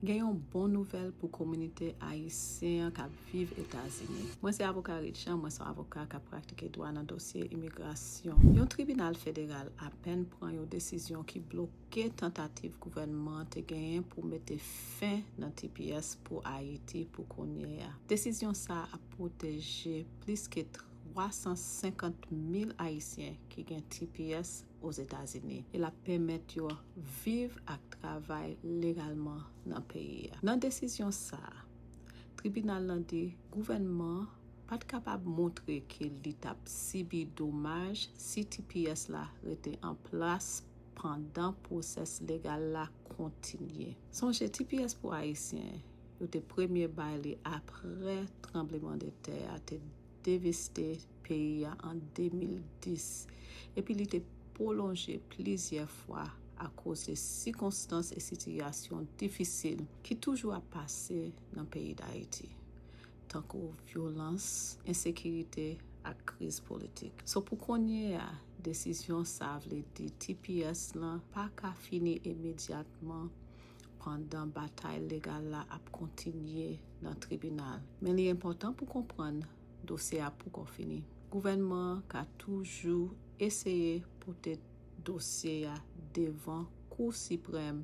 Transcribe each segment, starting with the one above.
Gen yon bon nouvèl pou kominite ayisyen an k ap viv Etazini. Mwen se avoka Reed Jean, mwen s on avoka k ap pratike dwa nan dosye imigrasyon. Yon tribinal federal apèn pran yon desizyon ki bloke tantativ gouvènman an te genyen pou mete fen nan tps pou Ayiti pou kounye a. Desizyon sa a ap pwoteje plis ke 350 mil ayisyen ki gen tps Ozetazini e l ap pèmèt yo viv ak travay legalman nan peyi a. Nan desizyon sa a, tribinal lan di gouvènman an pa t kapab montre ke li t ap sibi domaj si tps la rete an plas pandan pwosès legal la kontinye. Sonje tps pou Ayisyen yo te premye bay li apre tranbleman de tè a te. deveste peyi a an 2010 epi li te pwolonje plizyè fwa akoz de sikonstans e sitiyasyon difisil ki toujou ap pase nan peyi Dayiti, tankou vyolans, ensekirite ak kriz politik. So pou kounye a, desizyon sa vle di tps lan pa ka fini imedyatman pandan batay legal la ap kontinye nan tribinal. Men li enpòtan pou konprann dosye a poko fini. Gouvènman an ka toujou eseye pote dosye a devan Kou Siprèm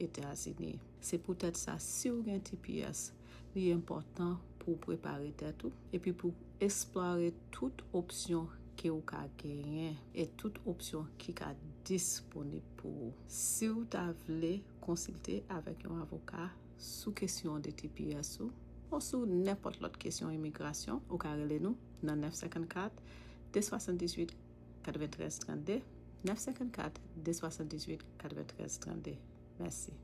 Etazini. Se poutèt sa si w gen tps, li enpòtan pou w prepare tèt ou epi pou esplore tout opsyon ke ou ka genyen e tout opsyon ki ka disponib pou ou. Si w ta vle konsilte avèk yon avoka sou kesyon de tps ou ou sou nenpòt lòt kesyon imigrasyon, ou ka rele nou nan 954 278 93 32, 954 278 93 32. Mèsi.